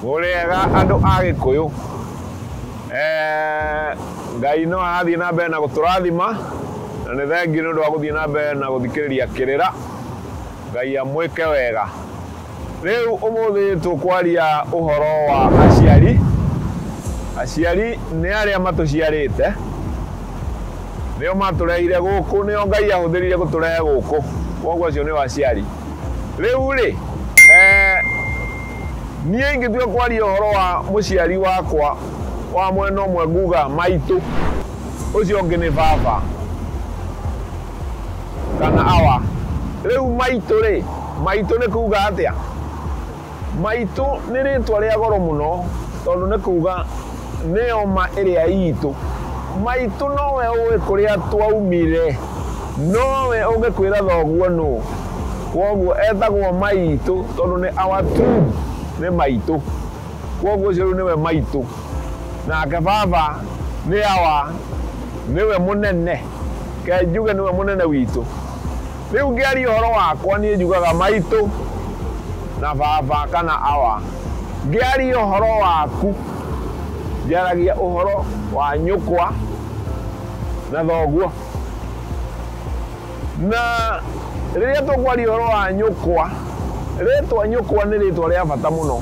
Mũrĩega andũ a Gĩkũyũ. Eh, Ngai no arathiĩ na mbere na gũtũrathima na nĩ thengiũ nĩ ũndũ wa gũthiĩ na mbere na gũthikĩrĩria kĩrĩra. Ngai amwĩke wega. Rĩu ũmũthĩ tũkwaria ũhoro wa aciari. Aciari nĩ arĩa matũciarĩte. Nĩo matũrehire gũkũ, nĩo Ngai ahũthĩrire gũtũrehe gũkũ. Kwoguo acio nĩo aciari. Rĩu rĩ, niĩ ingĩtua kwaria ũhoro wa mũciari wakwa wa mwena ũmwe nguga maitũ, ũcio ũngĩ nĩ baba. kana Awa. Rĩu maitũ-rĩ, maitũ nĩ kuuga atĩa? Maitũ nĩ rĩĩtwa rĩa goro mũno tondũ nĩ kuuga nĩyo ma ĩrĩa iitũ. Maitũ nowe ũĩ kũrĩa twaumire. Nowe ũngĩkwĩra thoguo nũũ. Kwoguo etagwo maitũ tondũ nĩ our king, nĩ maitũ. Kwoguo ũcio rĩu nĩwe maitũ. Nake baba nĩ Awa, nĩwe mũnene. Reke njuge nĩwe mũnene witũ. Rĩu ngĩaria ũhoro wakwa niĩ njugaga maitũ na baba kana awa. Ngĩaria ũhoro waku njaragia ũhoro wa nyũkwa na thoguo. Na rĩrĩa tũkwaria ũhoro wa nyũkwa, rĩtwa nyũkwa nĩ rĩtwa rĩa bata mũno.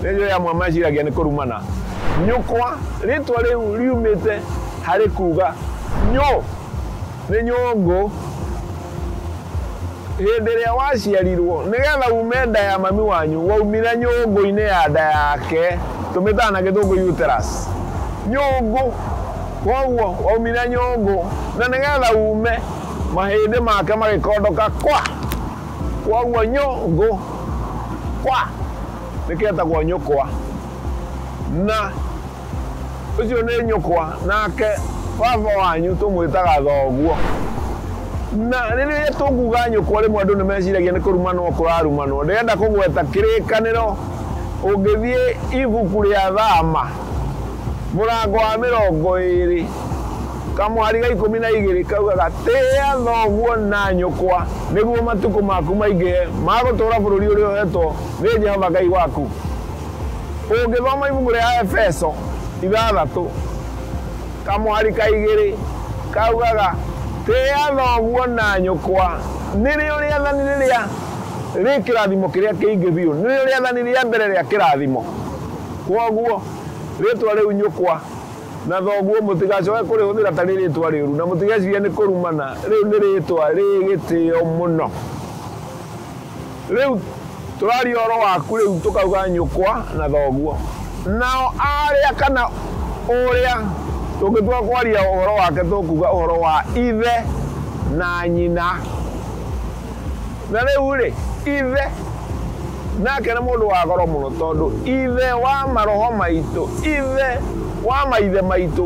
Nĩ njũĩ amwe meciragia nĩ kũrumana. Nyũkwa rĩtwa rĩu riumĩte... Harĩ kuuga nyũ nĩ nyũngũ. Hĩndĩ ĩrĩa waciarirwo, nĩ getha uume nda ya mami wanyu, waumire nyũngũ-inĩ ya nda yake, tũmĩtaga na gĩthũngũ uterus. Nyũngũ, kwoguo waumire nyũngũ, na nĩ getha uume, mahĩndĩ make magĩkondoka kwa! Kwoguo nyũ ngũ, kwa! Nĩkĩo etagwo nyũkwa. Na. Ũcio nĩ nyũkwa, nake baba wanyu tũmwĩtaga thoguo. Na rĩrĩa tũkuuga nyũkwa rĩmwe andũ nĩ meciragia nĩ kũrumanwo kũrarumanwo. Ndĩrenda kũgweta kĩrĩkanĩro, ũngĩthiĩ ibuku rĩa Thama, mũrango wa mĩrongo ĩĩrĩ, kamũhari ga ikũmi na igĩrĩ kaugaga, Tĩa thoguo na nyũkwa nĩguo matukũ maku maingĩhe ma gũtũũra bũrũri ũrĩa ũheetwo nĩ Jehova Ngai waku. Ũngĩthoma ibuku rĩa Aefeso ithathatũ, kamũhari ka igĩrĩ, kaugaga, Tĩa thoguo na nyũkwa. Nĩrĩo rĩathani rĩrĩa rĩ kĩrathimo kĩrĩa kĩingĩ biũ. Nĩrĩo rĩathani rĩa mbere rĩa kĩrathimo. Kwoguo, rĩĩtwa rĩu nyũkwa na thoguo mũtigacoke kũrĩhũthĩra ta rĩ rĩĩtwa rĩũru, na mũtigeciria nĩ kũrumana. Rĩu nĩ rĩĩtwa rĩ gĩtĩo mũno. Rĩu tũraria ũhoro waku rĩu tũkauga nyũkwa na thoguo. Nao aarĩa kana ũrĩa tũngĩtua kwaria ũhoro wake tũkuuga ũhoro wa ithe na nyina. Na rĩu-rĩ, Ithe nake nĩ mũndũ wa goro mũno tondũ Ithe wa maroho maitũ, Ithe wa maithe maitũ.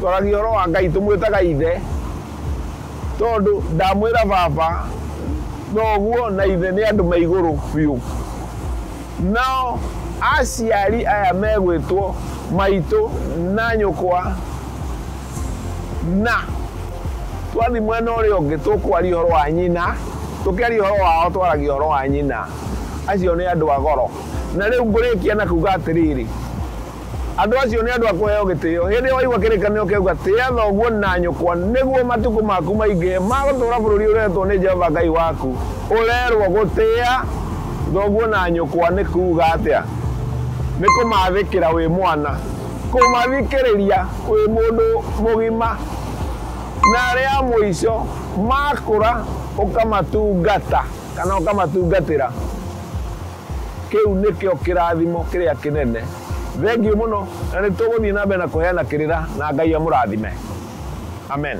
Twaragia ũhoro wa Ngai tũmwĩtaga Ithe. Tondũ ndamwĩra Baba, noguo na Ithe nĩ andũ me igũrũ biũ. Nao aciari aya megwĩtwo maitũ na nyũkwa, na twathiĩ mwena ũrĩa ũngĩ tũkwaria ũhoro wa nyina, tũkĩaria ũhoro wao twaragia ũhoro wa nyina. Acio nĩ andũ a goro. Na rĩu ngũrĩkia na kuuga atĩrĩrĩ. Andũ acio nĩ andũ a kũheo gĩtĩo. Hĩndĩ ĩyo waigua kĩrĩkanĩro kĩauga, Tĩa thoguo na nyũkwa nĩguo matukũ maku maingĩhe ma gũtũũra bũrũri ũreetwo nĩ Jehova Ngai waku, ũrerũo gũtĩa thoguo na nyũkwa nĩ kuuga atĩa? Nĩ kũmathĩkĩra wĩ mwana, kũmathikĩrĩria wĩ mũndũ mũgima, na arĩ a mũico makũra ũkamatungata kana ũkamatungatĩra. Kĩu nĩkĩo kĩrathimo kĩrĩa kĩnene. Thengiũ mũno, na nĩtũgũthiĩ na mbere na kũheana kĩrĩra, na Ngai amũrathime. Amen.